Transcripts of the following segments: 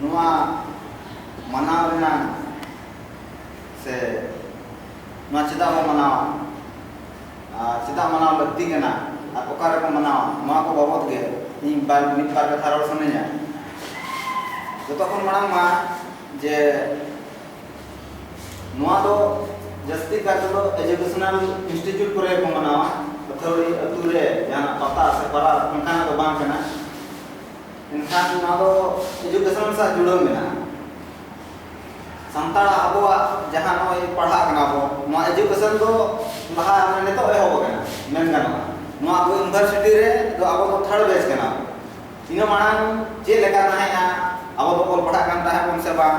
ᱱᱚᱣᱟ ᱢᱟᱱᱟᱣ ᱨᱮᱱᱟᱜ ᱥᱮ ᱱᱚᱣᱟ ᱪᱮᱫᱟᱜ ᱵᱚ ᱢᱟᱱᱟᱣᱟ ᱟᱨ ᱪᱮᱫᱟᱜ ᱢᱟᱱᱟᱣ ᱞᱟᱹᱠᱛᱤ ᱠᱟᱱᱟ ᱟᱨ ᱚᱠᱟ ᱨᱮᱵᱚ ᱢᱟᱱᱟᱣᱟ ᱱᱚᱣᱟ ᱠᱚ ᱵᱟᱵᱚᱫ ᱜᱮ ᱤᱧ ᱵᱟᱨ ᱢᱤᱫ ᱵᱟᱨ ᱠᱟᱛᱷᱟ ᱨᱚᱲ ᱥᱟᱱᱟᱧᱟ ᱡᱚᱛᱚ ᱠᱷᱚᱱ ᱢᱟᱲᱟᱝ ᱢᱟ ᱡᱮ ᱱᱚᱣᱟ ᱫᱚ ᱡᱟᱹᱥᱛᱤ ᱠᱟᱨ ᱛᱮᱫᱚ ᱮᱡᱩᱠᱮᱥᱚᱱᱟᱞ ᱤᱱᱥᱴᱤᱴᱭᱩᱴ ᱠᱚᱨᱮ ᱵᱚ ᱢᱟᱱᱟᱣᱟ ᱟᱹᱛᱷᱟᱹᱣᱲᱤ ᱟᱹᱛᱩ ᱨᱮ ᱡᱟᱦᱟᱱᱟᱜ ᱯᱟᱛᱟ ᱥᱮ ᱯᱟᱨᱟᱵᱽ ᱚᱱᱠᱟᱱᱟᱜ ᱫᱚ ᱵᱟᱝ ᱠᱟᱱᱟ ᱮᱱᱠᱷᱟᱱ ᱱᱚᱣᱟ ᱫᱚ ᱮᱡᱩᱠᱮᱥᱚᱱ ᱥᱟᱶ ᱡᱩᱲᱟᱹᱣ ᱢᱮᱱᱟᱜᱼᱟ ᱥᱟᱱᱛᱟᱲ ᱟᱵᱚᱣᱟᱜ ᱡᱟᱦᱟᱸ ᱱᱚᱜᱼᱚᱭ ᱯᱟᱲᱦᱟᱜ ᱠᱟᱱᱟ ᱵᱚ ᱱᱚᱣᱟ ᱮᱡᱩᱠᱮᱥᱚᱱ ᱫᱚ ᱞᱟᱦᱟ ᱢᱟᱱᱮ ᱱᱤᱛᱚᱜ ᱮᱦᱚᱵ ᱟᱠᱟᱱᱟ ᱢᱮᱱ ᱜᱟᱱᱚᱜᱼᱟ ᱱᱚᱣᱟ ᱟᱵᱚ ᱤᱭᱩᱱᱤᱵᱷᱟᱨᱥᱤᱴᱤ ᱨᱮ ᱫᱚ ᱟᱵᱚ ᱫᱚ ᱛᱷᱟᱨᱰ ᱵᱮᱪ ᱠᱟᱱᱟ ᱵᱚ ᱤᱱᱟᱹ ᱢᱟᱲᱟᱝ ᱪᱮᱫ ᱞᱮᱠᱟ ᱛᱟᱦᱮᱸᱫᱼᱟ ᱟᱵᱚ ᱫᱚᱵᱚᱱ ᱯᱟᱲᱦᱟᱜ ᱠᱟᱱ ᱛᱟᱦᱮᱸᱫ ᱵᱚᱱ ᱥᱮ ᱵᱟᱝ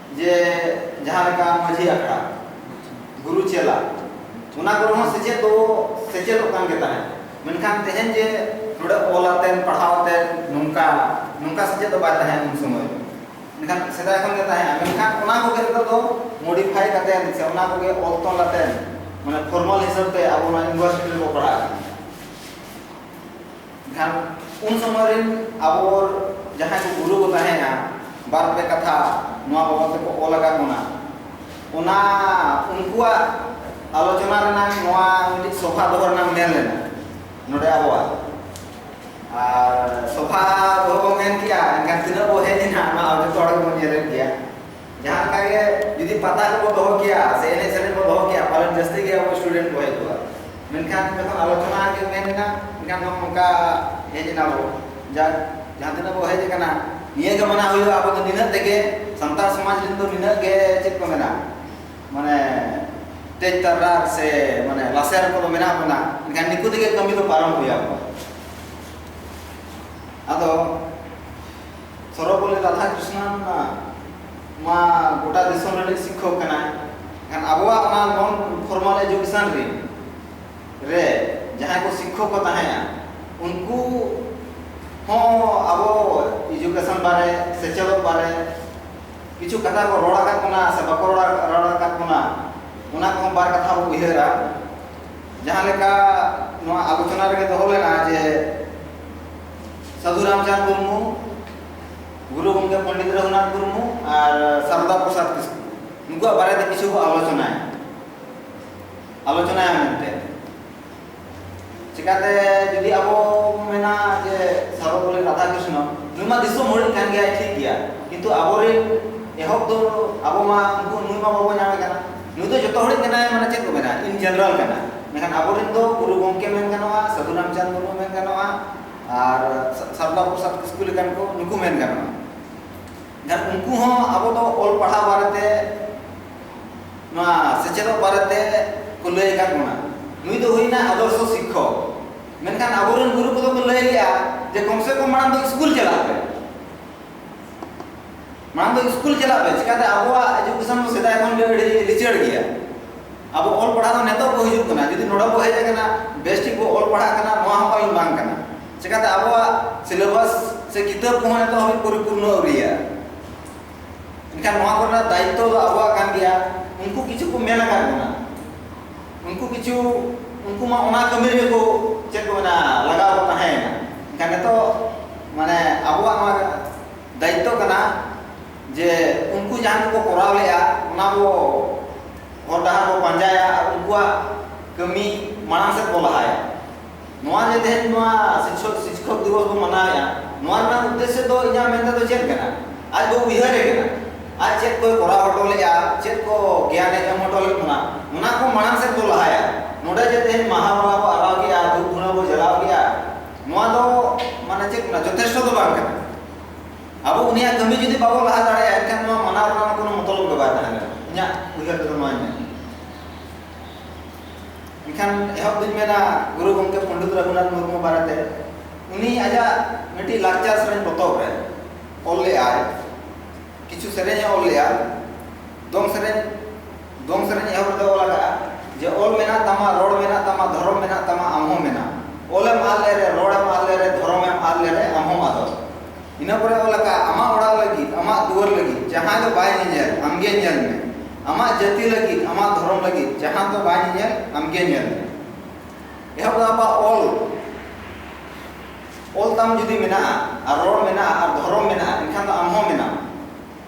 ᱡᱮ ᱡᱟᱦᱟᱸ ᱞᱮᱠᱟ ᱢᱟᱹᱡᱷᱤ ᱟᱠᱷᱲᱟ ᱜᱩᱨᱩ ᱪᱮᱞᱟ ᱚᱱᱟ ᱠᱚᱨᱮ ᱦᱚᱸ ᱥᱮᱪᱮᱫ ᱫᱚ ᱥᱮᱪᱮᱫᱚᱜ ᱠᱟᱱ ᱜᱮ ᱛᱟᱦᱮᱸᱫ ᱢᱮᱱᱠᱷᱟᱱ ᱛᱮᱦᱮᱧ ᱡᱮ ᱱᱚᱰᱮ ᱚᱞ ᱟᱛᱮᱱ ᱯᱟᱲᱦᱟᱣ ᱟᱛᱮᱱ ᱱᱚᱝᱠᱟ ᱱᱚᱝᱠᱟ ᱥᱮᱪᱮᱫ ᱫᱚ ᱵᱟᱭ ᱛᱟᱦᱮᱸ ᱩᱱ ᱥᱚᱢᱚᱭ ᱢᱮᱱᱠᱷᱟᱱ ᱥᱮᱫᱟᱭ ᱠᱷᱚᱱ ᱜᱮ ᱛᱟᱦᱮᱸ ᱢᱮᱱᱠᱷᱟᱱ ᱚᱱᱟ ᱠᱚᱜᱮ ᱱᱤᱛᱚᱜ ᱫᱚ ᱢᱚᱰᱤᱯᱷᱟᱭ ᱠᱟᱛᱮ ᱥᱮ ᱚᱱᱟ ᱠᱚᱜᱮ ᱚᱞ ᱛᱚᱞ ᱟᱛᱮ ᱢᱟᱱᱮ ᱯᱷᱚᱨᱢᱟᱞ ᱦᱤᱥᱟᱹᱵ ᱛᱮ ᱟᱵᱚ ᱱᱚᱣᱟ ᱤᱭᱩᱱᱤᱵᱷᱟᱨᱥᱤᱴᱤ ᱨᱮᱵᱚ ᱯᱟᱲᱦᱟᱜ ᱠᱟᱱᱟ ᱮᱱᱠᱷᱟᱱ ᱩᱱ ᱥᱚᱢᱚᱭ ᱨᱮᱱ ᱟᱵᱚ ᱡᱟᱦᱟᱸᱭ ᱠᱚ ᱜᱩᱨᱩ ᱠᱚ ᱛᱟᱦᱮᱸᱭᱟ ᱵᱟᱨ ᱯᱮ ᱠᱟᱛᱷᱟ ᱱᱚᱣᱟ ᱵᱟᱵᱚᱫ ᱛᱮᱠᱚ ᱚᱞ ᱟᱠᱟᱫ ᱵᱚᱱᱟ ᱚᱱᱟ ᱩᱱᱠᱩᱣᱟᱜ ᱟᱞᱳᱪᱚᱱᱟ ᱨᱮᱱᱟᱜ ᱱᱚᱣᱟ ᱢᱤᱫᱴᱤᱡ ᱥᱚᱵᱷᱟ ᱫᱚᱦᱚ ᱨᱮᱱᱟᱜ ᱢᱮᱱ ᱞᱮᱱᱟ ᱱᱚᱰᱮ ᱟᱵᱚᱣᱟᱜ ᱟᱨ ᱥᱚᱵᱷᱟ ᱫᱚᱦᱚ ᱵᱚᱱ ᱢᱮᱱ ᱠᱮᱜᱼᱟ ᱮᱱᱠᱷᱟᱱ ᱛᱤᱱᱟᱹᱜ ᱵᱚᱱ ᱦᱮᱡ ᱮᱱᱟ ᱚᱱᱟ ᱡᱚᱛᱚ ᱦᱚᱲ ᱜᱮᱵᱚᱱ ᱧᱮᱞᱮᱫ ᱜᱮᱭᱟ ᱡᱟᱦᱟᱸ ᱞᱮᱠᱟ ᱜᱮ ᱡᱩᱫᱤ ᱯᱟᱛᱟ ᱠᱚ ᱫᱚᱦᱚ ᱠᱮᱭᱟ ᱥᱮ ᱮᱱᱮᱡ ᱥᱮᱨᱮᱧ ᱠᱚ ᱫᱚᱦᱚ ᱠᱮᱭᱟ ᱯᱟᱞᱮᱱ ᱡᱟᱹᱥᱛᱤ ᱜᱮ ᱟᱵᱚ ᱥᱴᱩᱰᱮᱱᱴ ᱠᱚ ᱦᱮᱡ ᱠᱚᱜᱼᱟ ᱢᱮᱱᱠᱷᱟᱱ ᱡᱚᱠᱷᱚᱱ ᱟᱞᱳᱪᱚᱱᱟ ᱜᱮ ᱢᱮᱱ ᱮᱱᱟ ᱢᱮᱱᱠᱷᱟᱱ ᱱᱚᱝᱠᱟ ᱦᱮᱡ ᱮᱱᱟ ᱵᱚ ᱡᱟᱠ ᱡᱟᱦᱟᱸ ᱛᱤᱱᱟᱹᱜ ᱵᱚ ᱦᱮᱡ ᱟᱠᱟᱱᱟ ᱱᱤᱭᱟᱹ ᱜᱮ ᱢᱟᱱᱟᱣ ᱦᱩᱭᱩᱜᱼᱟ ᱟᱵᱚ ᱫᱚ ᱱᱤᱱᱟᱹᱜ ᱛᱮᱜᱮ ᱥᱟᱱᱛᱟᱲ ᱥᱚᱢᱟᱡᱽ ᱨᱮᱱ ᱫᱚ ᱱᱤᱱᱟᱹᱜ ᱜᱮ ᱪᱮᱫ ᱠᱚ ᱢᱮᱱᱟ ᱢᱟᱱᱮ ᱛᱮᱡᱽ ᱛᱟᱨᱟ ᱥᱮ ᱢᱟᱱᱮ ᱞᱟᱥᱮᱨ ᱠᱚᱫᱚ ᱢᱮᱱᱟᱜ ᱵᱚᱱᱟ ᱢᱮᱱᱠᱷᱟᱱ ᱱᱤᱠᱩ ᱛᱮᱜᱮ ᱠᱟᱹᱢᱤ ᱫᱚ ᱯᱟᱨᱚᱢ ᱦᱩᱭ ᱟᱵᱚᱱᱟ ᱟᱫᱚ ᱥᱚᱨᱚᱯᱚᱞᱞᱤ ᱨᱟᱫᱷᱟᱠᱨᱤᱥᱱᱟᱱ ᱢᱟ ᱜᱚᱴᱟ ᱫᱤᱥᱚᱢ ᱨᱤᱱᱤᱡ ᱥᱤᱠᱠᱷᱚᱠ ᱠᱟᱱᱟᱭ ᱮᱱᱠᱷᱟᱱ ᱟᱵᱚᱣᱟᱜ ᱚᱱᱟ ᱱᱚᱱ ᱯᱷᱚᱨᱢᱟᱞ ᱮᱡᱩᱠᱮᱥᱚᱱ ᱨᱤᱱ ᱨᱮ ᱡᱟᱦᱟᱸᱭ ᱠᱚ ᱥᱤᱠᱠᱷᱚᱠ ᱠᱚ ᱛᱟᱦᱮᱸᱜᱼᱟ ᱩᱱᱠᱩ ᱦᱚᱸ ᱟᱵᱚ ᱮᱡᱩᱠᱮᱥᱚᱱ ᱵᱟᱨᱮ ᱥᱮᱪᱮᱫᱚᱜ ᱵᱟᱨᱮ ᱠᱤᱪᱷᱩ ᱠᱟᱛᱷᱟ ᱠᱚ ᱨᱚᱲ ᱟᱠᱟᱫ ᱵᱚᱱᱟ ᱥᱮ ᱵᱟᱠᱚ ᱨᱚᱲ ᱨᱚᱲ ᱟᱠᱟᱫ ᱵᱚᱱᱟ ᱚᱱᱟ ᱠᱚᱦᱚᱸ ᱵᱟᱨ ᱠᱟᱛᱷᱟ ᱵᱚ ᱩᱭᱦᱟᱹᱨᱟ ᱡᱟᱦᱟᱸ ᱞᱮᱠᱟ ᱱᱚᱣᱟ ᱟᱞᱳᱪᱚᱱᱟ ᱨᱮᱜᱮ ᱫᱚᱦᱚ ᱞᱮᱱᱟ ᱡᱮ ᱥᱟᱹᱫᱷᱩ ᱨᱟᱢᱪᱟᱸᱫᱽ ᱢᱩᱨᱢᱩ ᱜᱩᱨᱩ ᱜᱚᱢᱠᱮ ᱯᱚᱱᱰᱤᱛ ᱨᱚᱜᱷᱩᱱᱟᱛᱷ ᱢᱩᱨᱢᱩ ᱟᱨ ᱥᱟᱨᱚᱫᱟ ᱯᱨᱚᱥᱟᱫᱽ ᱠᱤᱥᱠᱩ ᱱᱩᱠᱩᱣᱟᱜ ᱵᱟᱨᱮ ᱛᱮ ᱠᱤᱪᱷᱩ ᱠᱚ ᱟᱞᱳᱪᱚᱱᱟᱭᱟ ᱟᱞᱳᱪᱚᱱᱟᱭᱟ ᱢᱮᱱᱛᱮ ᱪᱤᱠᱟᱛᱮ ᱡᱩᱫᱤ ᱟᱵᱚ ᱢᱮᱱᱟ ᱡᱮ ᱥᱟᱨᱚᱵᱚᱞᱤ ᱨᱟᱫᱷᱟ ᱠᱨᱤᱥᱱᱚ ᱱᱩᱭ ᱢᱟ ᱫᱤᱥᱚᱢ ᱦᱚᱲᱤᱡ ᱠᱟᱱ ᱜᱮᱭᱟᱭ ᱴᱷᱤᱠ ᱜᱮᱭᱟ ᱠᱤᱱᱛᱩ ᱟᱵᱚᱨᱮᱱ ᱮᱦᱚᱵ ᱫᱚ ᱟᱵᱚ ᱢᱟ ᱩᱱᱠᱩ ᱱᱩᱭ ᱢᱟ ᱵᱟᱵᱚ ᱧᱟᱢᱮ ᱠᱟᱱᱟ ᱱᱩᱭ ᱫᱚ ᱡᱚᱛᱚ ᱦᱚᱲᱤᱡ ᱢᱮᱱᱟᱭ ᱢᱟᱱᱮ ᱪᱮᱫ ᱠᱚ ᱢᱮᱱᱟ ᱤᱱ ᱡᱮᱱᱟᱨᱮᱞ ᱠᱟᱱᱟ ᱢᱮᱱᱠᱷᱟᱱ ᱟᱵᱚᱨᱮᱱ ᱫᱚ ᱜᱩᱨᱩ ᱜᱚᱢᱠᱮ ᱢᱮᱱ ᱜᱟᱱᱚᱜᱼᱟ ᱥᱟᱹᱫᱷᱩ ᱨᱟᱢᱪᱟᱸᱫᱽ ᱢᱩᱨᱢᱩ ᱢᱮᱱ ᱜᱟᱱᱚᱜᱼᱟ ᱟᱨ ᱥᱟᱨᱫᱟ ᱯᱨᱚᱥᱟᱫᱽ ᱠᱤᱥᱠᱩ ᱞᱮᱠᱟᱱ ᱠᱚ ᱱᱩᱠᱩ ᱢᱮᱱ ᱜᱟᱱᱚᱜᱼᱟ ᱡᱟᱦᱟᱸ ᱩᱱᱠᱩ ᱦᱚᱸ ᱟᱵᱚ ᱫᱚ ᱚᱞ ᱯᱟᱲᱦᱟᱣ ᱵᱟᱨᱮᱛᱮ ᱱᱚᱣᱟ ᱥᱮᱪᱮᱫᱚᱜ ᱵᱟᱨᱮᱛᱮ ᱠᱚ ᱞᱟᱹᱭ ᱟᱠᱟᱫ ᱵᱚᱱᱟ ᱱᱩᱭ ᱫᱚ ᱦᱩᱭᱱᱟ ᱟᱫᱚᱨᱥᱚ ᱥᱤᱠᱠᱷᱚᱠ ᱢᱮᱱᱠᱷᱟᱱ ᱟᱵᱚᱨᱮᱱ ᱜᱩᱨᱩ ᱠᱚᱫᱚ ᱠᱚ ᱞᱟᱹᱭ ᱞᱮᱜᱼᱟ ᱡᱮ ᱠᱚᱢ ᱥᱮ ᱠᱚᱢ ᱢᱟᱲᱟᱝ ᱫᱚ ᱥᱠᱩᱞ ᱪᱟᱞᱟᱜ ᱯᱮ ᱢᱟᱲᱟᱝ ᱫᱚ ᱥᱠᱩᱞ ᱪᱟᱞᱟᱜ ᱯᱮ ᱪᱤᱠᱟᱹᱛᱮ ᱟᱵᱚᱣᱟᱜ ᱮᱡᱩᱠᱮᱥᱚᱱ ᱫᱚ ᱥᱮᱫᱟᱭ ᱠᱷᱚᱱ ᱜᱮ ᱟᱹᱰᱤ ᱞᱤᱪᱟᱹᱲ ᱜᱮᱭᱟ ᱟᱵᱚ ᱚᱞ ᱯᱟᱲᱦᱟᱣ ᱫᱚ ᱱᱤᱛᱚᱜ ᱠᱚ ᱦᱤᱡᱩᱜ ᱠᱟᱱᱟ ᱡᱩᱫᱤ ᱱᱚᱰᱮ ᱠᱚ ᱦᱮᱡ ᱟᱠᱟᱱᱟ ᱵᱮᱥ ᱴᱷᱤᱠ ᱠᱚ ᱚᱞ ᱯᱟᱲᱦᱟᱜ ᱠᱟᱱᱟ ᱱᱚᱣᱟ ᱦᱚᱸ ᱠᱟᱹᱢᱤ ᱵᱟᱝ ᱠᱟᱱᱟ ᱪᱤᱠᱟᱹᱛᱮ ᱟᱵᱚᱣᱟᱜ ᱥᱤᱞᱮᱵᱟᱥ ᱥᱮ ᱠᱤᱛᱟᱹᱵ ᱠᱚᱦᱚᱸ ᱱᱤᱛᱚᱜ ᱦᱟᱹᱵᱤᱡ ᱯᱚᱨᱤᱯᱩᱨᱱᱚ ᱟᱹᱣᱨᱤᱭᱟ ᱮᱱᱠᱷᱟᱱ ᱱᱚᱣᱟ ᱠᱚᱨᱮᱱᱟᱜ ᱫᱟᱭᱤᱛᱛᱚ ᱫᱚ ᱟᱵᱚᱣᱟᱜ ᱠᱟᱱ ᱜᱮᱭᱟ ᱩᱱᱠᱩ ᱠᱤᱪᱷᱩ ᱠᱚ ᱢᱮᱱ ᱟᱠᱟᱫ ᱵᱚᱱᱟ ᱩᱱᱠᱩ ᱠᱤᱪᱷᱩ ᱩᱱᱠᱩ ᱢᱟ ᱚᱱᱟ ᱠᱟᱹᱢᱤ ᱨᱮᱜᱮ ᱠᱚ ᱪᱮᱫ ᱠᱚ ᱢᱮᱱᱟ ᱞᱟᱜᱟᱣ ᱠᱚ ᱛᱟᱦᱮᱸᱭᱮᱱᱟ ᱮᱱᱠᱷᱟᱱ ᱱᱤᱛᱚᱜ ᱢᱟᱱᱮ ᱟᱵᱚᱣᱟᱜ ᱱᱚᱣᱟ ᱫᱟᱭᱤᱛᱛᱚ ᱠᱟᱱᱟ ᱡᱮ ᱩᱱᱠᱩ ᱡᱟᱦᱟᱸ ᱠᱚᱠᱚ ᱠᱚᱨᱟᱣ ᱞᱮᱫᱼᱟ ᱚᱱᱟ ᱵᱚ ᱦᱚᱨ ᱰᱟᱦᱟᱨ ᱵᱚ ᱯᱟᱸᱡᱟᱭᱟ ᱟᱨ ᱩᱱᱠᱩᱣᱟᱜ ᱠᱟᱹᱢᱤ ᱢᱟᱲᱟᱝ ᱥᱮᱫ ᱵᱚ ᱞᱟᱦᱟᱭᱟ ᱱᱚᱣᱟ ᱡᱮ ᱛᱮᱦᱮᱧ ᱱᱚᱣᱟ ᱥᱤᱠᱷᱚᱠ ᱥᱤᱠᱷᱚᱠ ᱫᱤᱵᱚᱥ ᱵᱚ ᱢᱟᱱᱟᱣᱮᱫᱼᱟ ᱱᱚᱣᱟ ᱨᱮᱱᱟᱜ ᱩᱫᱽᱫᱮᱥᱥᱚ ᱫᱚ ᱤᱧᱟᱹᱜ ᱢᱮᱱ ᱛᱮᱫᱚ ᱪᱮᱫ ᱠᱟᱱᱟ ᱟᱡ ᱵᱚ ᱩᱭᱦᱟᱹᱨᱮ ᱠᱟᱱᱟ ᱟᱡ ᱪᱮᱫ ᱠᱚᱭ ᱠᱚᱨᱟᱣ ᱦᱚᱴᱚ ᱞᱮᱫᱼᱟ ᱪᱮᱫ ᱠᱚ ᱜᱮᱭᱟᱱᱮ ᱮᱢ ᱦᱚᱴᱚ ᱞᱮᱫ ᱵᱚᱱᱟ ᱚᱱᱟ ᱠᱚ ᱢᱟᱲᱟᱝ ᱥᱮᱫ ᱵᱚ ᱞᱟᱦᱟᱭᱟ ᱱᱚᱰᱮ ᱡᱮ ᱛᱮᱦᱮᱧ ᱢᱟᱦᱟ ᱵᱚᱸᱜᱟ ᱵᱚ ᱟᱨᱟᱣ ᱠᱮᱫᱼᱟ ᱫᱷᱩᱯ ᱫᱷᱩᱬᱟᱹ ᱵᱚ ᱡᱟᱞᱟᱣ ᱠᱮᱫᱼᱟ ᱱᱚᱣᱟ ᱫᱚ ᱢᱟᱱᱮ ᱪᱮᱫ ᱠᱟᱱᱟ ᱡᱚᱛᱷᱮᱥᱴᱚ ᱫᱚ ᱵᱟᱝ ᱠᱟᱱᱟ ᱟᱵᱚ ᱩᱱᱤᱭᱟᱜ ᱠᱟᱹᱢᱤ ᱡᱩᱫᱤ ᱵᱟᱵᱚ ᱞᱟᱦᱟ ᱫᱟᱲᱮᱭᱟᱜᱼᱟ ᱮᱱᱠᱷᱟᱱ ᱱᱚᱣᱟ ᱢᱟᱱᱟᱣ ᱨᱮᱱᱟᱜ ᱠᱳᱱᱳ ᱢᱚᱛᱞᱚᱵ ᱜᱮ ᱵᱟᱭ ᱛᱟᱦᱮᱱᱟ ᱤᱧᱟᱹᱜ ᱩᱭᱦᱟᱹᱨ ᱛᱮᱫᱚ ᱱᱚᱣᱟᱧ ᱢᱮᱱᱟ ᱮᱱᱠᱷᱟᱱ ᱮᱦᱚᱵ ᱫᱩᱧ ᱢᱮᱱᱟ ᱜᱩᱨᱩ ᱜᱚᱢᱠᱮ ᱯᱚᱱᱰᱤᱛ ᱨᱚᱜᱷᱩᱱᱟᱛᱷ ᱢᱩᱨᱢᱩ ᱵᱟᱨᱮᱛᱮ ᱩᱱᱤ ᱟᱡᱟᱜ ᱢᱤᱫᱴᱤᱡ ᱞᱟᱠᱪᱟᱨ ᱥᱮᱨᱮᱧ ᱯᱚᱛᱚᱵ ᱨᱮ ᱚᱞ ᱞᱮᱫᱟᱭ ᱠᱤᱪᱷᱩ ᱥᱮᱨᱮᱧ ᱮ ᱚᱞ ᱞᱮᱫᱟ ᱫᱚᱝ ᱥᱮᱨᱮᱧ ᱫᱚᱝ ᱥᱮᱨᱮᱧ ᱮᱦᱚᱵ ᱨᱮᱫᱚ ᱚᱞ ᱟᱠᱟᱜᱼᱟ ᱡᱮ ᱚᱞ ᱢᱮᱱᱟᱜ ᱛᱟᱢᱟ ᱨᱚᱲ ᱢᱮᱱᱟᱜ ᱛᱟᱢᱟ ᱫᱷᱚᱨᱚᱢ ᱢᱮᱱᱟᱜ ᱛᱟᱢᱟ ᱟᱢ ᱦᱚᱸ ᱢᱮᱱᱟᱜ ᱚᱞᱮᱢ ᱟᱫ ᱞᱮᱨᱮ ᱨᱚᱲᱮᱢ ᱟᱫ ᱞᱮᱨᱮ ᱫᱷᱚᱨᱚᱢᱮᱢ ᱟᱫ ᱞᱮᱨᱮ ᱟᱢ ᱦᱚᱸ ᱟᱫᱚᱜ ᱤᱱᱟᱹ ᱯᱚᱨᱮ ᱚᱞ ᱟᱠᱟᱜᱼᱟ ᱟᱢᱟᱜ ᱚᱲᱟᱜ ᱞᱟᱹᱜᱤᱫ ᱟᱢᱟᱜ ᱫᱩᱣᱟᱹᱨ ᱞᱟᱹᱜᱤᱫ ᱡᱟᱦᱟᱸᱭ ᱫᱚ ᱵᱟᱭ ᱧᱮᱧᱮᱞ ᱟᱢ ᱜᱮ ᱧᱮᱞ ᱢᱮ ᱟᱢᱟᱜ ᱡᱟᱹᱛᱤ ᱞᱟᱹᱜᱤᱫ ᱟᱢᱟᱜ ᱫᱷᱚᱨᱚᱢ ᱞᱟᱹᱜᱤᱫ ᱡᱟᱦᱟᱸ ᱫᱚ ᱵᱟᱭ ᱧᱮᱧᱮᱞ ᱟᱢ ᱜᱮ ᱧᱮᱞ ᱢᱮ ᱮᱦᱚᱵ ᱫᱚ ᱟᱵᱚᱣᱟᱜ ᱚᱞ ᱚᱞ ᱛᱟᱢ ᱡᱩᱫᱤ ᱢᱮᱱᱟᱜᱼᱟ ᱟᱨ ᱨᱚᱲ ᱢᱮᱱᱟᱜᱼᱟ ᱟᱨ ᱫᱷᱚᱨᱚᱢ ᱢᱮᱱᱟᱜᱼᱟ ᱮᱱᱠᱷᱟᱱ ᱫᱚ ᱟᱢ ᱦᱚᱸ ᱢᱮᱱᱟᱢ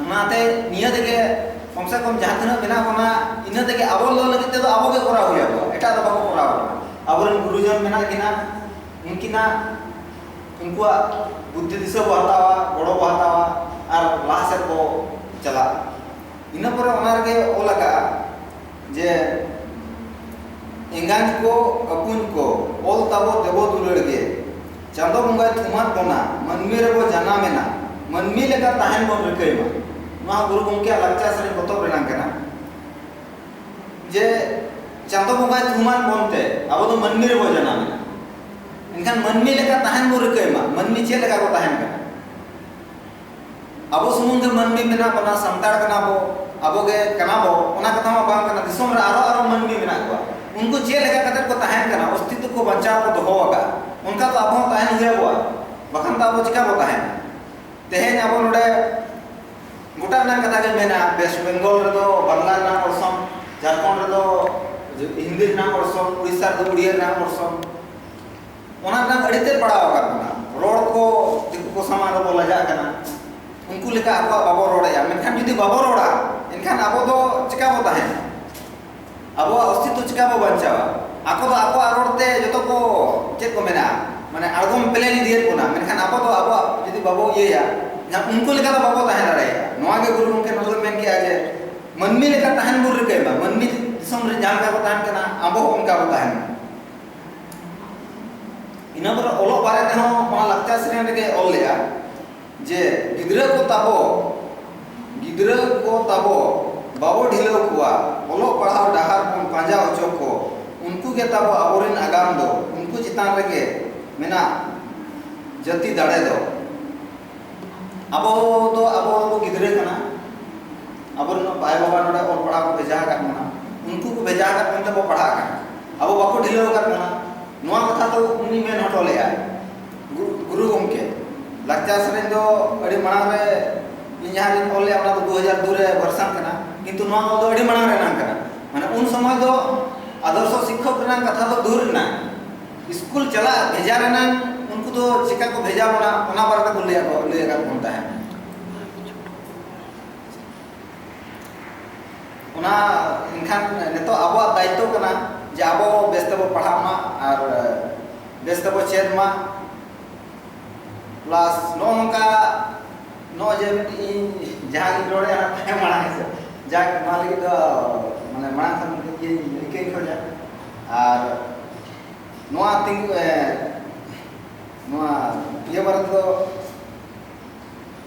ᱚᱱᱟᱛᱮ ᱱᱤᱭᱟᱹ ᱛᱮᱜᱮ ᱠᱚᱢ ᱥᱮ ᱠᱚᱢ ᱡᱟᱦᱟᱸ ᱛᱤᱱᱟᱹᱜ ᱢᱮᱱᱟᱜ ᱵᱚᱱᱟ ᱤᱱᱟᱹ ᱛᱮᱜᱮ ᱟᱵᱚ ᱫᱚ ᱞᱟᱹᱜᱤᱫ ᱛᱮᱫᱚ ᱟᱵᱚ ᱜᱮ ᱠᱚᱨᱟᱣ ᱦᱩᱭ ᱟᱵᱚᱱᱟ ᱮᱴᱟᱜ ᱫᱚ ᱵᱟᱠᱚ ᱠᱚᱨᱟᱣ ᱟᱵᱚᱱᱟ ᱟᱵᱚᱨᱮᱱ ᱜᱩᱨᱩᱡᱚᱱ ᱢᱮᱱᱟᱜ ᱠᱤᱱᱟ ᱩᱱᱠᱤᱱᱟᱜ ᱩᱱᱠᱩᱣᱟᱜ ᱵᱩᱫᱽᱫᱷᱤ ᱫᱤᱥᱟᱹ ᱵᱚ ᱦᱟᱛᱟᱣᱟ ᱜᱚᱲᱚ ᱵᱚ ᱦᱟᱛᱟᱣᱟ ᱟᱨ ᱞᱟᱦᱟ ᱥᱮᱫ ᱵᱚ ᱪᱟᱞᱟᱜᱼᱟ ᱤᱱᱟᱹ ᱯᱚᱨᱮ ᱚᱱᱟ ᱨᱮᱜᱮ ᱚᱞ ᱟᱠᱟᱜᱼᱟ ᱡᱮ ᱮᱸᱜᱟᱛ ᱠᱚ ᱟᱹᱯᱩᱧ ᱠᱚ ᱚᱞ ᱛᱟᱵᱚ ᱫᱮᱵᱚ ᱫᱩᱞᱟᱹᱲ ᱜᱮ ᱪᱟᱸᱫᱚ ᱵᱚᱸᱜᱟᱭ ᱛᱷᱩᱢᱟᱫ ᱵᱚᱱᱟ ᱢᱟᱹᱱᱢᱤ ᱨᱮᱵᱚ ᱡᱟᱱᱟᱢ ᱮᱱᱟ ᱢᱟᱹᱱᱢᱤ ᱞᱮᱠᱟ ᱛᱟᱦᱮᱱ ᱵᱚᱱ ᱨᱤᱠᱟᱹᱭ ᱢᱟ ᱱᱚᱣᱟ ᱜᱩᱨᱩ ᱜᱚᱢᱠᱮᱭᱟᱜ ᱞᱟᱠᱪᱟᱨ ᱥᱮᱨᱮᱧ ᱯᱚᱛᱚᱵ ᱨᱮᱱᱟᱜ ᱠᱟᱱᱟ ᱡᱮ ᱪᱟᱸᱫᱚ ᱵᱚᱸᱜᱟᱭ ᱛᱷᱩᱢᱟᱫ ᱵᱚᱱᱛᱮ ᱟᱵᱚ ᱫᱚ ᱢᱟᱹᱱᱢᱤ ᱨᱮᱵᱚ ᱡᱟᱱᱟᱢ ᱮᱱᱟ ᱮᱱᱠᱷᱟᱱ ᱢᱟᱹᱱᱢᱤ ᱞᱮᱠᱟ ᱛᱟᱦᱮᱱ ᱵᱚ ᱨᱤᱠᱟᱹᱭ ᱢᱟ ᱢᱟᱹᱱᱢᱤ ᱪᱮᱫ ᱞᱮᱠᱟ ᱠᱚ ᱛᱟᱦᱮᱱ ᱠᱟᱱᱟ ᱟᱵᱚ ᱥᱩᱢᱩᱝ ᱜᱮ ᱢᱟᱹᱱᱢᱤ ᱢᱮᱱᱟᱜ ᱵᱚᱱᱟ, ᱥᱟᱱᱛᱟᱲ ᱠᱟᱱᱟ ᱵᱚ, ᱟᱵᱚ ᱜᱮ ᱠᱟᱱᱟ ᱵᱚ, ᱚᱱᱟ ᱠᱟᱛᱷᱟ ᱢᱟ ᱵᱟᱝ ᱠᱟᱱᱟ᱾ ᱫᱤᱥᱚᱢ ᱨᱮ ᱟᱨᱚ ᱟᱨᱚ ᱢᱟᱹᱱᱢᱤ ᱢᱮᱱᱟᱜ ᱠᱚᱣᱟ᱾ ᱩᱱᱠᱩ ᱪᱮᱫ ᱞᱮᱠᱟ ᱠᱟᱛᱮ ᱠᱚ ᱛᱟᱦᱮᱱ ᱠᱟᱱᱟ, ᱚᱥᱛᱤᱛᱛᱚ ᱠᱚ ᱵᱟᱧᱪᱟᱣ ᱠᱚ ᱫᱚᱦᱚ ᱟᱠᱟᱫᱼᱟ, ᱚᱱᱠᱟ ᱛᱚ ᱟᱵᱚ ᱦᱚᱸ ᱛᱟᱦᱮᱱ ᱦᱩᱭ ᱟᱵᱚᱣᱟ᱾ ᱵᱟᱠᱷᱟᱱ ᱫᱚ ᱟᱵᱚ ᱪᱤᱠᱟᱹ ᱵᱚ ᱛᱟᱦᱮᱱᱟ? ᱛᱮᱦᱮᱧ ᱟᱵᱚ ᱱᱚᱰᱮ ᱜᱚᱴᱟ ᱨᱮᱱᱟᱜ ᱠᱟᱛᱷᱟ ᱜᱮ ᱢᱮᱱᱟ, ᱣᱮᱥᱴ ᱵᱮᱝᱜᱚᱞ ᱨᱮᱫᱚ ᱵᱟᱝᱞᱟ ᱨᱮᱱᱟᱜ ᱚᱨᱥᱚᱝ, ᱡᱷᱟᱨᱠᱷᱚᱸᱰ ᱨᱮᱫᱚ ᱦᱤᱱᱫᱤ ᱨᱮᱱᱟᱜ ᱚᱨᱥᱚᱝ, ᱩᱲᱤᱥᱥᱟ ᱨᱮᱫᱚ ᱩᱲᱤᱭᱟ ᱨᱮᱱᱟᱜ ᱚᱨᱥᱚᱝ᱾ ᱚᱱᱟ ᱨᱮᱱᱟᱜ ᱟᱹᱰᱤ ᱛᱮᱫ ᱯᱟᱲᱟᱣ ᱟᱠᱟᱫ ᱵᱚᱱᱟ ᱨᱚᱲ ᱠᱚ ᱫᱤᱠᱩ ᱠᱚ ᱥᱟᱢᱟᱝ ᱨᱮᱵᱚ ᱞᱟᱡᱟᱜ ᱠᱟᱱᱟ ᱩᱱᱠᱩ ᱞᱮᱠᱟ ᱟᱵᱚᱣᱟᱜ ᱵᱟᱵᱚ ᱨᱚᱲᱮᱜᱼᱟ ᱢᱮᱱᱠᱷᱟᱱ ᱡᱩᱫᱤ ᱵᱟᱵᱚ ᱨᱚᱲᱟ ᱮᱱᱠᱷᱟᱱ ᱟᱵᱚ ᱫᱚ ᱪᱮᱠᱟ ᱵᱚ ᱛᱟᱦᱮᱱᱟ ᱟᱵᱚᱣᱟᱜ ᱚᱥᱛᱤᱛᱛᱚ ᱪᱮᱠᱟ ᱵᱚ ᱵᱟᱧᱪᱟᱣᱟ ᱟᱠᱚ ᱫᱚ ᱟᱠᱚᱣᱟᱜ ᱨᱚᱲ ᱛᱮ ᱡᱚᱛᱚ ᱠᱚ ᱪᱮᱫ ᱠᱚ ᱢᱮᱱᱟ ᱢᱟᱱᱮ ᱟᱬᱜᱚᱢ ᱯᱞᱮᱱ ᱤᱫᱤᱭᱮᱫ ᱵᱚᱱᱟ ᱢᱮᱱᱠᱷᱟᱱ ᱟᱵᱚ ᱫᱚ ᱟᱵᱚᱣᱟᱜ ᱡᱩᱫᱤ ᱵᱟᱵᱚ ᱤᱭᱟᱹᱭᱟ ᱮᱱᱠᱷᱟᱱ ᱩᱱᱠᱩ ᱞᱮᱠᱟ ᱫᱚ ᱵᱟᱵᱚ ᱛᱟᱦᱮᱸ ᱫᱟᱲᱮᱭᱟᱜᱼᱟ ᱱᱚᱣᱟ ᱜᱮ ᱜᱩᱨᱩ ᱜᱚᱢᱠᱮ ᱱᱚᱰᱮ ᱫᱚ ᱢᱮᱱ ᱠᱮᱜᱼᱟ ᱡᱮ ᱢᱟᱹᱱᱢᱤ ᱞᱮᱠᱟ ᱛᱟᱦᱮᱱ ᱵᱚᱱ ᱨᱤᱠᱟᱹᱭ ᱢᱟ ᱢᱟᱹᱱᱢᱤ ᱫᱤᱥᱚᱢ ᱨᱮ ᱡᱟᱦᱟᱸ ᱞᱮᱠᱟ ᱠᱚ ᱛᱟᱦᱮᱱ ᱠᱟᱱᱟ ᱟᱵᱚ ᱦᱚᱸ ᱚᱱᱠᱟ ᱵᱚ ᱛᱟᱦᱮᱱ ᱢᱟ ᱤᱱᱟᱹ ᱯᱚᱨᱮ ᱚᱞᱚᱜ ᱵᱟᱨᱮ ᱛᱮᱦᱚᱸ ᱚᱱᱟ ᱞᱟᱠᱪᱟᱨ ᱥᱮᱨᱮᱧ ᱨᱮᱜᱮ ᱚᱞ ᱞᱮᱫᱼᱟ ᱡᱮ ᱜᱤᱫᱽᱨᱟᱹ ᱠᱚ ᱛᱟᱵᱚ ᱜᱤᱫᱽᱨᱟᱹ ᱠᱚ ᱛᱟᱵᱚ ᱵᱟᱵᱚ ᱰᱷᱤᱞᱟᱹᱣ ᱠᱚᱣᱟ ᱚᱞᱚᱜ ᱯᱟᱲᱦᱟᱣ ᱰᱟᱦᱟᱨ ᱵᱚᱱ ᱯᱟᱸᱡᱟ ᱚᱪᱚ ᱠᱚ ᱩᱱᱠᱩ ᱜᱮ ᱛᱟᱵᱚ ᱟᱵᱚᱨᱮᱱ ᱟᱜᱟᱢ ᱫᱚ ᱩᱱᱠᱩ ᱪᱮᱛᱟᱱ ᱨᱮᱜᱮ ᱢᱮᱱᱟᱜ ᱡᱟᱹᱛᱤ ᱫᱟᱲᱮ ᱫᱚ ᱟᱵᱚ ᱫᱚ ᱟᱵᱚ ᱜᱤᱫᱽᱨᱟᱹ ᱠᱟᱱᱟ ᱟᱵᱚ ᱨᱮᱱ ᱟᱭᱳ ᱵᱟᱵᱟ ᱱᱚᱰᱮ ᱚᱞ ᱯᱟᱲᱦᱟᱣ ᱠᱚ ᱵᱷᱮᱡᱟ ᱟᱠᱟᱫ ᱵᱚᱱᱟ ᱩᱱᱠᱩ ᱠᱚ ᱵᱷᱮᱡᱟ ᱟᱠᱟᱫ ᱵᱚᱱ ᱛᱮᱵᱚ ᱯᱟᱲᱦᱟᱜ ᱠᱟᱱᱟ ᱟᱵᱚ ᱵᱟᱠᱚ ᱰᱷᱤᱞᱟᱹᱣ ᱟᱠᱟᱫ ᱵᱚᱱᱟ ᱱᱚᱣᱟ ᱠᱟᱛᱷᱟ ᱫᱚ ᱩᱱᱤ ᱢᱮᱱ ᱦᱚᱴᱚ ᱞᱮᱫᱟᱭ ᱜᱩᱨᱩ ᱜᱚᱢᱠᱮ ᱞᱟᱠᱪᱟᱨ ᱥᱮᱨᱮᱧ ᱫᱚ ᱟᱹᱰᱤ ᱢᱟᱲᱟᱝ ᱨᱮ ᱤᱧ ᱡᱟᱦᱟᱸ ᱨᱤᱧ ᱚᱞ ᱞᱮᱫᱟ ᱚᱱᱟ ᱫᱚ ᱫᱩ ᱦᱟᱡᱟᱨ ᱫᱩ ᱨᱮ ᱵᱷᱟᱨᱥᱟᱱ ᱠᱟᱱᱟ ᱠᱤᱱᱛᱩ ᱱᱚᱣᱟ ᱚᱞ ᱫᱚ ᱟᱹᱰᱤ ᱢᱟᱲᱟᱝ ᱨᱮᱱᱟᱜ ᱠᱟᱱᱟ ᱢᱟᱱᱮ ᱩᱱ ᱥᱚᱢᱚᱭ ᱫᱚ ᱟᱫᱚᱨᱥᱚ ᱥᱤᱠᱠᱷᱚᱠ ᱨᱮᱱᱟᱜ ᱠᱟᱛᱷᱟ ᱫᱚ ᱫᱩᱨ ᱨᱮᱱᱟᱜ ᱥᱠᱩᱞ ᱪᱟᱞᱟᱜ ᱵᱷᱮᱡᱟ ᱨᱮᱱᱟᱜ ᱩᱱᱠᱩ ᱫᱚ ᱪᱮᱠᱟ ᱠᱚ ᱵᱷᱮᱡᱟ ᱵᱚᱱᱟ ᱚᱱᱟ ᱵᱟᱨᱮ ᱛᱮᱠᱚ ᱞᱟᱹᱭ ᱟᱠᱟᱫ ᱵᱚᱱ ᱛᱟᱦᱮᱸᱫ ᱚᱱᱟ ᱮᱱᱠᱷᱟᱱ ᱱᱤᱛᱚᱜ ᱟᱵᱚᱣᱟᱜ ᱫᱟᱭᱤᱛᱛᱚ ᱠᱟᱱᱟ ᱡᱮ ᱟᱵᱚ ᱵᱮᱥ ᱛᱮᱵᱚ ᱯᱟᱲᱦᱟᱜ ᱢᱟ ᱟᱨ ᱵᱮᱥ ᱛᱮᱵᱚ ᱪᱮᱫ ᱢᱟ ᱯᱞᱟᱥ ᱱᱚᱜᱼᱚ ᱱᱚᱝᱠᱟ ᱱᱚᱜᱼᱚᱭ ᱡᱮ ᱢᱤᱫᱴᱤᱡ ᱤᱧ ᱡᱟᱦᱟᱸᱧ ᱨᱚᱲᱮᱫᱼᱟ ᱛᱟᱭᱚᱢ ᱢᱟᱲᱟᱝ ᱦᱮᱸᱥᱮ ᱡᱟᱠ ᱱᱚᱣᱟ ᱞᱟᱹᱜᱤᱫ ᱫᱚ ᱢᱟᱱᱮ ᱢᱟᱲᱟᱝ ᱠᱷᱚᱱ ᱤᱧ ᱨᱤᱠᱟᱹᱧ ᱠᱷᱚᱡᱟ ᱟᱨ ᱱᱚᱣᱟ ᱛᱤᱸᱜᱩ ᱱᱚᱣᱟ ᱤᱭᱟᱹ ᱵᱟᱨᱮ ᱛᱮᱫᱚ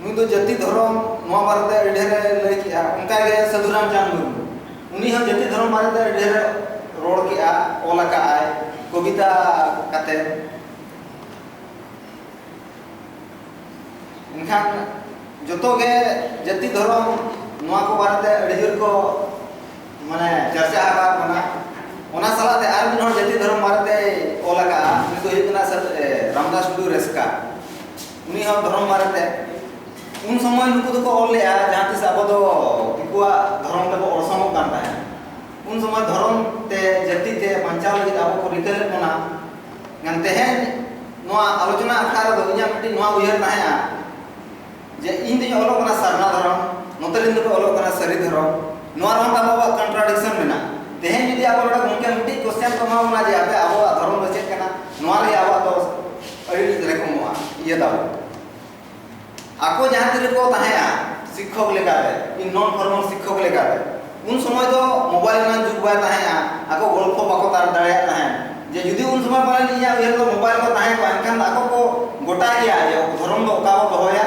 ᱱᱩᱭ ᱫᱚ ᱡᱟᱹᱛᱤ ᱫᱷᱚᱨᱚᱢ ᱱᱚᱣᱟ ᱵᱟᱨᱮᱛᱮ ᱟᱹᱰᱤ ᱰᱷᱮᱨ ᱮ ᱞᱟᱹᱭ ᱠᱮᱜᱼᱟ ᱚᱱᱠᱟᱜᱮ ᱥᱟᱹᱫᱷᱩ ᱨᱟᱢᱪᱟᱸᱫᱽ ᱢᱩᱨᱢᱩ ᱩᱱᱤ ᱦᱚᱸ ᱡᱟᱹᱛᱤ ᱫᱷᱚᱨᱚᱢ ᱵᱟᱨᱮᱛᱮ ᱟᱹᱰᱤ ᱰᱷᱮᱨ ᱨᱚᱲ ᱠᱮᱜᱼᱟ ᱚᱞ ᱟᱠᱟᱫ ᱟᱭ ᱠᱚᱵᱤᱛᱟ ᱠᱟᱛᱮ ᱮᱱᱠᱷᱟᱱ ᱡᱚᱛᱚ ᱜᱮ ᱡᱟᱹᱛᱤ ᱫᱷᱚᱨᱚᱢ ᱱᱚᱣᱟ ᱠᱚ ᱵᱟᱨᱮᱛᱮ ᱟᱹᱰᱤ ᱡᱳᱨ ᱠᱚ ᱢᱟᱱᱮ ᱪᱟᱨᱪᱟ ᱟᱠᱟᱫ ᱵᱚᱱᱟ ᱚᱱᱟ ᱥᱟᱞᱟᱜ ᱛᱮ ᱟᱨ ᱢᱤᱫ ᱦᱚᱲ ᱡᱟᱹᱛᱤ ᱫᱷᱚᱨᱚᱢ ᱵᱟᱨᱮᱛᱮ ᱚᱞ ᱟᱠᱟᱫᱼᱟ ᱩᱱᱤ ᱫᱚ ᱦᱩᱭᱩᱜ ᱠᱟᱱᱟ ᱨᱟᱢᱫᱟᱥ ᱴᱩᱰᱩ ᱨᱮᱥᱠᱟ ᱩᱱᱤ ᱦᱚᱸ ᱫᱷᱚᱨᱚᱢ ᱵᱟᱨᱮ ᱛᱮ ᱩᱱ ᱥᱚᱢᱚᱭ ᱱᱩᱠᱩ ᱫᱚᱠᱚ ᱚᱞ ᱞᱮᱜᱼᱟ ᱡᱟᱦᱟᱸ ᱛᱤᱥ ᱟᱵᱚ ᱫᱚ ᱫᱤᱠᱩᱣᱟᱜ ᱫᱷᱚᱨᱚᱢ ᱛᱮᱵᱚ ᱚᱲᱥᱚᱝᱚᱜ ᱠᱟᱱ ᱛᱟᱦᱮᱸᱫ ᱩᱱ ᱥᱚᱢᱚᱭ ᱫᱷᱚᱨᱚᱢ ᱛᱮ ᱡᱟᱹᱛᱤ ᱛᱮ ᱵᱟᱧᱪᱟᱣ ᱞᱟᱹᱜᱤᱫ ᱟᱵᱚ ᱠᱚ ᱨᱤᱠᱟᱹ ᱞᱮᱫ ᱵᱚᱱᱟ ᱢᱮᱱ ᱛᱮᱦᱮᱧ ᱱᱚᱣᱟ ᱟᱞᱳᱪᱚᱱᱟ ᱟᱠᱷᱲᱟ ᱨᱮᱫᱚ ᱤᱧᱟᱹᱜ ᱢᱤᱫᱴᱤᱡ ᱱᱚᱣᱟ ᱩᱭᱦᱟᱹᱨ ᱛᱟᱦᱮᱸᱜᱼᱟ ᱡᱮ ᱤᱧ ᱫᱚᱧ ᱚᱞᱚᱜ ᱠᱟᱱᱟ ᱥᱟᱨᱱᱟ ᱫᱷᱚᱨᱚᱢ ᱱᱚᱛᱮ ᱨᱮᱱ ᱫᱚᱠᱚ ᱚᱞᱚᱜ ᱠᱟᱱᱟ ᱥᱟᱹᱨᱤ ᱫᱷᱚᱨᱚᱢ ᱱᱚᱣᱟ ᱨᱮᱦᱚᱸ ᱛᱟᱵᱚ ᱟᱵᱚᱣᱟᱜ ᱠᱚᱱᱴᱨᱟᱰᱤᱠᱥᱚᱱ ᱢᱮᱱᱟᱜᱼᱟ ᱛᱮᱦᱮᱧ ᱡᱩᱫᱤ ᱟᱵᱚ ᱱᱚᱰᱮ ᱜᱚᱢᱠᱮ ᱢᱤᱫᱴᱤᱡ ᱠᱚᱥᱪᱮᱱ ᱠᱚ ᱮᱢᱟ ᱵᱚᱱᱟ ᱡᱮ ᱟᱯᱮ ᱟᱵᱚᱣᱟᱜ ᱫᱷᱚᱨᱚᱢ ᱫᱚ ᱪᱮᱫ ᱠᱟᱱᱟ ᱱᱚᱣᱟ ᱞᱟᱹᱜᱤᱫ ᱟᱵᱚᱣᱟᱜ ᱫᱚ ᱟᱹᱰᱤ ᱜᱤᱫᱽᱨᱟᱹ ᱠᱚ ᱢᱚᱜᱼᱟ ᱤᱭᱟᱹ ᱫᱟᱵᱚ ᱟᱠᱚ ᱡᱟᱦᱟᱸ ᱛᱤᱨᱮ ᱠᱚ ᱛᱟᱦᱮᱸᱜᱼᱟ ᱥᱤᱠᱠᱷᱚᱠ ᱞᱮᱠᱟᱛᱮ ᱤᱧ ᱱᱚᱱ ᱯᱷᱚᱨᱢᱟᱞ ᱥᱤᱠᱠᱷᱚᱠ ᱞᱮᱠᱟᱛᱮ ᱩᱱ ᱥᱚᱢᱚᱭ ᱫᱚ ᱢᱳᱵᱟᱭᱤᱞ ᱨᱮᱱᱟᱜ ᱡᱩᱜᱽ ᱵᱟᱭ ᱛᱟᱦᱮᱸᱜᱼᱟ ᱟᱠᱚ ᱜᱚᱞᱯᱷᱚ ᱵᱟᱠᱚ ᱛᱟᱨ ᱫᱟᱲᱮᱭᱟᱜ ᱛᱟᱦᱮᱸᱫ ᱡᱮ ᱡᱩᱫᱤ ᱩᱱ ᱥᱚᱢᱚᱭ ᱯᱟᱞᱮᱱ ᱤᱧᱟᱹᱜ ᱩᱭᱦᱟᱹᱨ ᱫᱚ ᱢᱳᱵᱟᱭᱤᱞ ᱠᱚ ᱛᱟᱦᱮᱸ ᱠᱚᱜᱼᱟ ᱮᱱᱠᱷᱟᱱ ᱟᱠᱚ ᱠᱚ ᱜᱚᱴᱟ ᱜᱮᱭᱟ ᱡᱮ ᱫᱷᱚᱨᱚᱢ ᱫᱚ ᱚᱠᱟ ᱵᱚ ᱫᱚᱦᱚᱭᱟ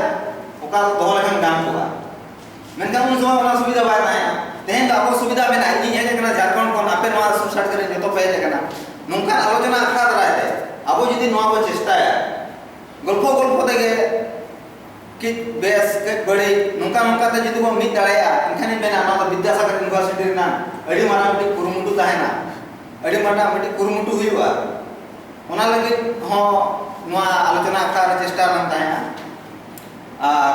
ᱚᱠᱟ ᱫᱚᱦᱚ ᱞᱮᱠᱷᱟᱱ ᱜᱟᱱ ᱠᱚᱜᱼᱟ ᱢᱮᱱᱠᱷᱟᱱ ᱩᱱ ᱥᱚᱢᱚᱭ ᱚᱱᱟ ᱥᱩᱵᱤᱫᱷᱟ ᱵᱟᱭ ᱛᱟᱦᱮᱸ ᱛᱮᱦᱮᱧ ᱫᱚ ᱟᱵᱚ ᱥᱩᱵᱤᱫᱷᱟ ᱢᱮᱱᱟᱜᱼᱟ ᱤᱧᱤᱧ ᱦᱮᱡ ᱟᱠᱟᱱᱟ ᱡᱷᱟᱲᱠᱷᱚᱸᱰ ᱠᱷᱚᱱ ᱟᱯᱮ ᱱᱚᱣᱟ ᱥᱩᱥᱟᱴ ᱠᱟᱛᱮ ᱡᱚᱛᱚ ᱯᱮ ᱦᱮᱡ ᱟᱠᱟᱱᱟ ᱱᱚᱝᱠᱟᱱ ᱟᱞᱳᱪᱚᱱᱟ ᱟᱠᱷᱲᱟ ᱫᱟᱨᱟᱭ ᱛᱮ ᱟᱵᱚ ᱡᱩᱫᱤ ᱱᱚᱣᱟ ᱵᱚ ᱪᱮᱥᱴᱟᱭᱟ ᱜᱚᱞᱯᱷᱚ ᱜᱚᱞᱯᱷᱚ ᱛᱮᱜᱮ ᱠᱤ ᱵᱮᱥ ᱠᱟᱹᱡ ᱵᱟᱹᱲᱤᱡ ᱱᱚᱝᱠᱟ ᱱᱚᱝᱠᱟ ᱛᱮ ᱡᱩᱫᱤ ᱵᱚ ᱢᱤᱫ ᱫᱟᱲᱮᱭᱟᱜᱼᱟ ᱮᱱᱠᱷᱟᱱᱤᱧ ᱢᱮᱱᱟ ᱱᱚᱣᱟ ᱫᱚ ᱵᱤᱫᱽᱫᱟᱥᱟᱜᱚᱨ ᱤᱭᱩᱱᱤᱵᱷᱟᱨᱥᱤᱴᱤ ᱨᱮᱱᱟᱜ ᱟᱹᱰᱤ ᱢᱟᱨᱟᱝ ᱢᱤᱫᱴᱤᱡ ᱠᱩᱨᱩᱢᱩᱴᱩ ᱛᱟᱦᱮᱱᱟ ᱟᱹᱰᱤ ᱢᱟᱨᱟᱝ ᱢᱤᱫᱴᱤᱡ ᱠᱩᱨᱩᱢᱩᱴᱩ ᱦᱩᱭᱩᱜᱼᱟ ᱚᱱᱟ ᱞᱟᱹᱜᱤᱫ ᱦᱚᱸ ᱱᱚᱣᱟ ᱟᱞᱳᱪᱚᱱᱟ ᱟᱠᱷᱲᱟ ᱨᱮ ᱪᱮᱥᱴᱟ ᱵᱟᱝ ᱛᱟᱦᱮᱱᱟ ᱟᱨ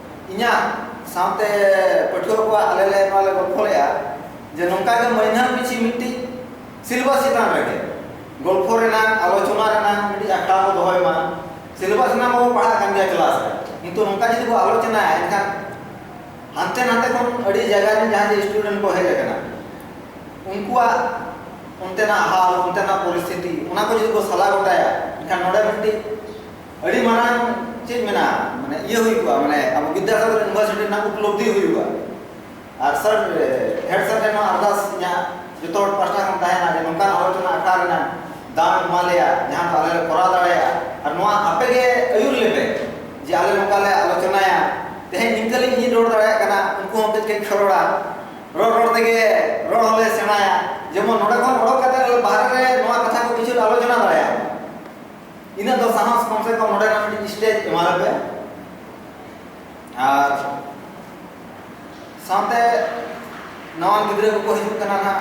ᱤᱧᱟᱜ ᱥᱟᱶᱛᱮ ᱯᱟᱹᱴᱷᱩᱣᱟᱹ ᱠᱚᱣᱟᱜ ᱟᱞᱮ ᱞᱮ ᱱᱚᱣᱟ ᱞᱮ ᱜᱚᱞᱯᱷᱚ ᱞᱮᱫᱼᱟ ᱡᱮ ᱱᱚᱝᱠᱟ ᱜᱮ ᱢᱟᱹᱦᱱᱟᱹ ᱯᱤᱪᱷᱤ ᱢᱤᱫᱴᱤᱡ ᱥᱤᱞᱮᱵᱟᱥ ᱪᱮᱛᱟᱱ ᱨᱮᱜᱮ ᱜᱚᱞᱯᱷᱚ ᱨᱮᱱᱟᱜ ᱟᱞᱳᱪᱚᱱᱟ ᱨᱮᱱᱟᱜ ᱢᱤᱫᱴᱤᱡ ᱟᱠᱷᱲᱟ ᱵᱚ ᱫᱚᱦᱚᱭ ᱢᱟ ᱥᱤᱞᱮᱵᱟᱥ ᱨᱮᱱᱟᱜ ᱵᱚ ᱯᱟᱲᱦᱟᱜ ᱠᱟᱱ ᱜᱮᱭᱟ ᱠᱞᱟᱥ ᱨᱮ ᱠᱤᱱᱛᱩ ᱱᱚᱝᱠᱟ ᱡᱩᱫᱤ ᱵᱚ ᱟᱞᱳᱪᱚᱱᱟᱭᱟ ᱮᱱᱠᱷᱟᱱ ᱦᱟᱱᱛᱮ ᱱᱟᱛᱮ ᱠᱷᱚᱱ ᱟᱹᱰᱤ ᱡᱟᱭᱜᱟ ᱨᱮᱱ ᱡᱟᱦᱟᱸ ᱡᱮ ᱥᱴᱩᱰᱮᱱᱴ ᱠᱚ ᱦᱮᱡ ᱟᱠᱟᱱᱟ ᱩᱱᱠᱩᱣᱟᱜ ᱚᱱᱛᱮᱱᱟᱜ ᱦᱟᱞ ᱚᱱᱛᱮᱱᱟᱜ ᱯᱚᱨᱤᱥᱛᱷᱤᱛᱤ ᱚᱱᱟ ᱠᱚ ᱡᱩᱫᱤ ᱵᱚ ᱥᱟᱞᱟ ᱜᱚᱴᱟᱭᱟ ᱮᱱᱠᱷᱟᱱ ᱱᱚᱰᱮ ᱢᱤᱫᱴᱤᱡ ᱟᱹᱰᱤ ᱢᱟᱨᱟᱝ ᱪᱮᱫ ᱢᱮᱱᱟ ᱢᱟᱱᱮ ᱤᱭᱟᱹ ᱦᱩᱭᱩᱜᱼᱟ ᱢᱟᱱᱮ ᱟᱵᱚ ᱵᱤᱫᱽᱫᱟᱥᱟᱜᱚᱨ ᱤᱭᱩᱱᱤᱵᱷᱟᱨᱥᱤᱴᱤ ᱨᱮᱱᱟᱜ ᱩᱯᱞᱚᱵᱽᱫᱷᱤ ᱦᱩᱭᱩᱜᱼᱟ ᱟᱨ ᱥᱟᱨ ᱦᱮᱰ ᱥᱟᱨ ᱴᱷᱮᱱ ᱦᱚᱸ ᱟᱨᱫᱟᱥ ᱤᱧᱟᱹᱜ ᱡᱚᱛᱚ ᱦᱚᱲ ᱯᱟᱥᱴᱟ ᱠᱷᱚᱱ ᱛᱟᱦᱮᱱᱟ ᱡᱮ ᱱᱚᱝᱠᱟᱱ ᱟᱞᱳᱪᱚᱱᱟ ᱟᱠᱷᱲᱟ ᱨᱮᱱᱟᱜ ᱫᱟᱣ ᱮᱢᱟ ᱞᱮᱭᱟ ᱡᱟᱦᱟᱸ ᱫᱚ ᱟᱞᱮ ᱞᱮ ᱠᱚᱨᱟᱣ ᱫᱟᱲᱮᱭᱟᱜᱼᱟ ᱟᱨ ᱱᱚᱣᱟ ᱟᱯᱮ ᱜᱮ ᱟᱹᱭᱩᱨ ᱞᱮᱯᱮ ᱡᱮ ᱟᱞᱮ ᱱᱚᱝᱠᱟ ᱞᱮ ᱟᱞᱳᱪᱚᱱᱟᱭᱟ ᱛᱮᱦᱮᱧ ᱱᱤᱝᱠᱟᱹ ᱞᱤᱧ ᱤᱧ ᱨᱚᱲ ᱫᱟᱲᱮᱭᱟᱜ ᱠᱟᱱᱟ ᱩᱱᱠᱩ ᱦᱚᱸ ᱠᱟᱹᱡ ᱠᱟᱹᱡ ᱠᱚ ᱨᱚᱲᱟ ᱨᱚᱲ ᱨᱚᱲ ᱛᱮᱜᱮ ᱨᱚᱲ ᱦᱚᱸᱞᱮ ᱥᱮᱬᱟᱭᱟ ᱡᱮᱢᱚᱱ ᱱᱚᱰᱮ ᱠᱷᱚᱱ ᱚᱰᱚᱠ ᱠᱟᱛᱮ ᱵᱟᱦᱨᱮ ᱨᱮ ᱱᱚᱣᱟ ᱠᱟᱛᱷᱟ ᱠᱚ ᱠᱤᱪᱷᱩ ᱞᱮ ᱟᱞᱳᱪᱚᱱᱟ ᱫᱟᱲᱮᱭᱟᱜᱼᱟ ᱤᱱᱟᱹ ᱫᱚ ᱥᱟᱦᱟᱥ ᱠᱚᱢ ᱥᱮ ᱠᱚᱢ ᱱᱚᱰᱮ ᱱᱟᱜ ᱢᱤᱫᱴᱤᱡ ᱥᱴᱮᱡᱽ ᱮᱢᱟ ᱞᱮᱯᱮ ᱟᱨ ᱥᱟᱶᱛᱮ ᱱᱟᱣᱟ ᱜᱤᱫᱽᱨᱟᱹ ᱠᱚᱠᱚ ᱦᱤᱡᱩᱜ ᱠᱟᱱᱟ ᱱᱟᱜ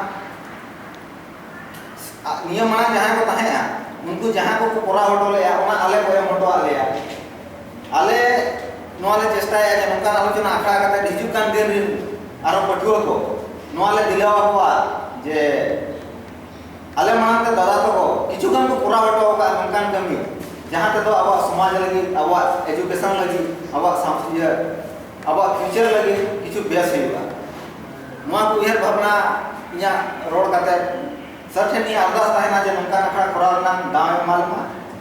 ᱱᱤᱭᱟᱹ ᱢᱟᱲᱟᱝ ᱡᱟᱦᱟᱸᱭ ᱠᱚ ᱛᱟᱦᱮᱸᱜᱼᱟ ᱩᱱᱠᱩ ᱡᱟᱦᱟᱸ ᱠᱚᱠᱚ ᱠᱚᱨᱟᱣ ᱦᱚᱴᱚ ᱞᱮᱜᱼᱟ ᱚᱱᱟ ᱟᱞᱮ ᱠᱚ ᱮᱢ ᱦᱚᱴᱚᱣᱟᱜ ᱞᱮᱭᱟ ᱟᱞᱮ ᱱᱚᱣᱟ ᱞᱮ ᱪᱮᱥᱴᱟᱭᱟ ᱡᱮ ᱱᱚᱝᱠᱟᱱ ᱟᱞᱳᱪᱚᱱᱟ ᱟᱠᱷᱲᱟ ᱠᱟᱛᱮ ᱦᱤᱡᱩᱜ ᱠᱟᱱ ᱫᱤᱱ ᱨᱮᱱ ᱟᱨᱚ ᱯᱟᱹᱴᱷᱩᱣᱟᱹ ᱠᱚ ᱱᱚᱣᱟ ᱞᱮ ᱫᱤᱞᱟᱹᱣ ᱟᱠᱚᱣᱟ ᱡᱮ ᱟᱞᱮ ᱢᱟᱲᱟᱝ ᱛᱮ ᱫᱟᱫᱟ ᱛᱟᱠᱚ ᱠᱤᱪᱷᱩ ᱜᱟᱱ ᱠᱚ ᱠᱚᱨᱟᱣ ᱦᱚᱴᱚ ᱟᱠᱟᱫ ᱱᱚᱝᱠᱟᱱ ᱠᱟᱹᱢᱤ ᱡᱟᱦᱟᱸ ᱛᱮᱫᱚ ᱟᱵᱚᱣᱟᱜ ᱥᱚᱢᱟᱡᱽ ᱞᱟᱹᱜᱤᱫ ᱟᱵᱚᱣᱟᱜ ᱮᱡᱩᱠᱮᱥᱚᱱ ᱞᱟᱹᱜᱤᱫ ᱟᱵᱚᱣᱟᱜ ᱥᱟᱶᱛᱟ ᱟᱵᱚᱣᱟᱜ ᱯᱷᱤᱭᱩᱪᱟᱨ ᱞᱟᱹᱜᱤᱫ ᱠᱤᱪᱷᱩ ᱵᱮᱥ ᱦᱩᱭᱩᱜᱼᱟ ᱱᱚᱣᱟ ᱠᱚ ᱩᱭᱦᱟᱹᱨ ᱵᱷᱟᱵᱽᱱᱟ ᱤᱧᱟᱹᱜ ᱨᱚᱲ ᱠᱟᱛᱮ ᱥᱟᱨ ᱴᱷᱮᱱ ᱤᱧᱟᱹᱜ ᱟᱨᱫᱟᱥ ᱛᱟᱦᱮᱱᱟ ᱡᱮ ᱱᱚᱝᱠᱟᱱ ᱟᱠᱷᱲᱟ ᱠᱚᱨᱟᱣ ᱨᱮᱱᱟᱜ ᱫᱟᱣ ᱮᱢᱟ ᱞᱮᱢᱟ